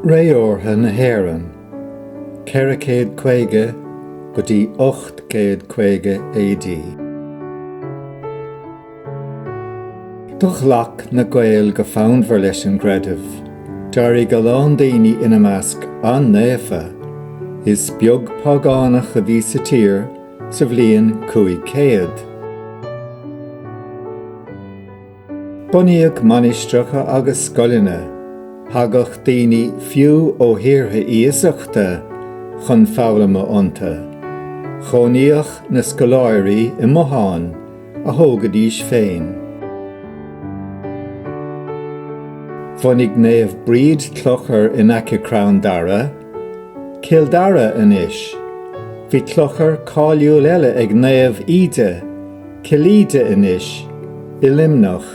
Ré órtha na hÉireann, 450 go dtí 850 AD. Do ghlac na Gaeil go fonnmhar leis an gcreideamh. D'éirigh a lán daoine ina measc an-naofa. Is beag págánach a bhí sa tír sa bhliain 500. Bunaíodh mainistreacha agus scoileanna. Thagadh daoine fiú ó thíortha iasachta chun foghlama iontu. Chónaíodh na scoláirí i mbotháin a thógaidís féin. Bhunaigh Naomh Bríd clochar in aice crann dara. Cill Dara anois. Bhí clochar cáiliúil eile ag Naomh Íde, Cill Íde anois, i Luimneach.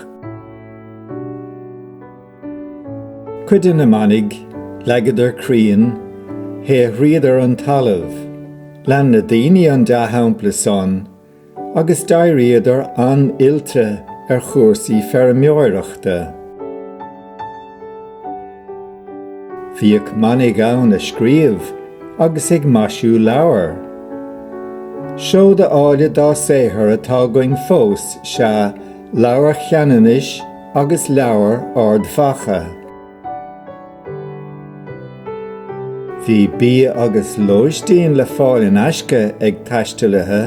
Cuid de na manaigh, leagadar crainn, shaothraíodar an talamh. Lean na daoine an dea-shampla san agus d'éiríodar an-oilte ar chúrsaí feirmeoireachta. Bhíodh manaigh ann ag scríobh agus ag maisiú leabhar. Seoda áille dá saothar atá againn fós sea Leabhar Cheanannais agus Leabhar Ard Mhacha. Bhí bia agus lóistín le fáil in aisce ag taistealaithe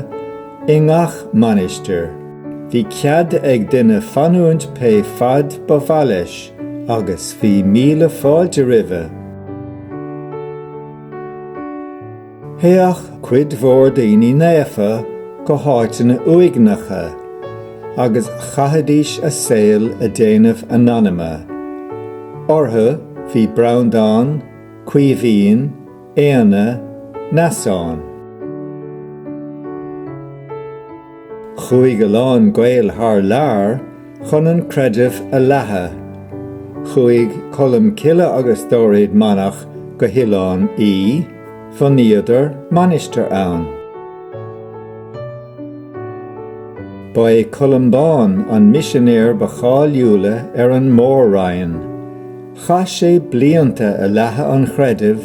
i ngach mainistir. Bhí cead ag duine fanúint pé faid ba mhaith leis agus bhí míle fáilte roimhe. Théadh cuid mhór daoine naofa go háiteanna uaigneacha agus chaithidís a saol ag déanamh a n-anama. Orthu bhí Breandán, Caoimhín, Éanna, Neasán. Chuaigh a lán Gael thar lear chun an creideamh a leathadh. Chuaigh Colm Cille agus dáréag manach go hOileán Í, bhunaíodar mainistir ann. Ba é Columbán an misinéir ba cháiliúla ar an Mór-Roinn. Chaith sé blianta ag leathadh an chreidimh